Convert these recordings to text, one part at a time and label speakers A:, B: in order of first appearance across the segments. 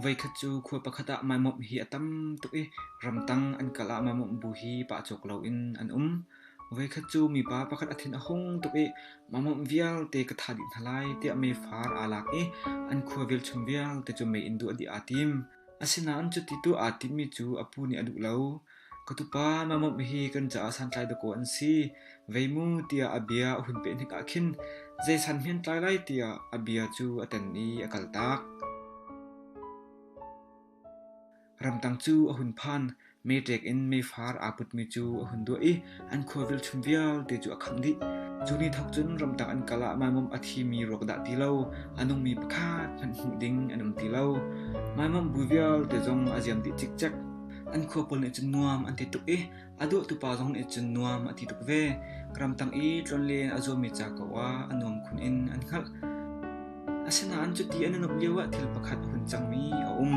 A: Voikhat cu khua pakhat ah maimawmh hi a tam tuk i ramtang an kal ah maimawmh bu hi pah cawk loin an um. Voikhat cu mipa pakhat a thin a hung tuk i maimawmh vialte ka thah dih hna lai tiah meifar aa lak i an khua velchum vialte cu mei in duh a dih aa tim. Asinain cuti tuah aa timmi cu a pu nih a duh lo. Ka tupa, Mamawnh hi kan caah santlai dawkaw an si. Vei mu tiah a bia a hun peh hnik ah khin zei san hmentlai lai tiah a bia cu a ten i a kaltak. Ramtang cu a hun phan. Meṭek in meifar aa putmi cu a hun duah i an khua velchum vialte cu a khangh dih. Cu ni thawk cun ramtang an kal ah maimum a thimi ruak dah ti lo, a nungmi pakhat hmanh hmuh ding an um ti lo. Maimum bu vialte zong a ziam dih cikcek. An khua pawl nih cun nuam an ti tuk i a duahtupa zong nih cun nuam a ti tuk ve. Ramtang i tlawnlen a zuammi ca ko ah a nuam khun in an hngalh. Asinain cuti an an uk lioah thil pakhat a hun cangmi a um.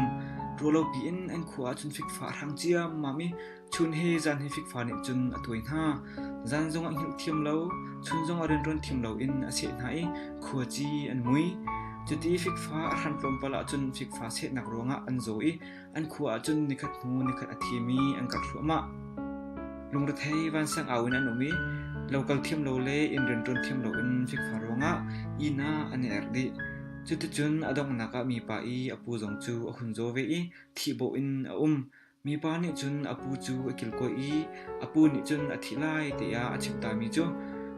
A: Ruah lo piin an khua ah cun fikfa a hrang ciammam i chun he zan he fikfa nih cun a tuai hna. Zan zong a hngilh thiam lo, chun zong a rianṭuan thiam loin a seh hna i khuaci an mui. Cuti fikfa a hran tlawmpal ahcun fikfa sehnak ruangah an zaw i An khua ahcun nikhat hnu nikhat a thimi an karh thluahmah. Lungrethei vansiangau in an um i lo kal thiam lo le inn rianṭuan thiam loin fikfa ruangah inn ah an i erh dih. Cuticun a donghnak ah mipa i a pu zong cu a hun zaw ve i thihbawh in a um. Mipa nih cun a pu cu a kilkawi i A pu nih cun a thih lai tiah a chim tami cu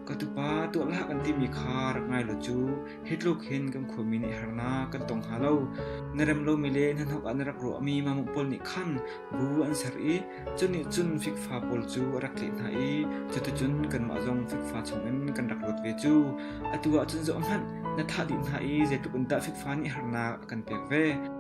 A: ka tupa tuah hlah kan timi kha rak ngai law cu hi tluk hin kan khuami nih harnak kan tong hnga lo. Na rem lomi le na hnuk ah na rak ruahmi mamuk pawl nih khan bu an ser i cunih cun fikfa pawl cu a rak tleh hna i cuticun kanmah zong fikfa chungin kan rak luat ve cu. Atu ahcun zoh hmanh na thah dih hna i zeitluk in dah fikfa nih harnak a kan pek ve.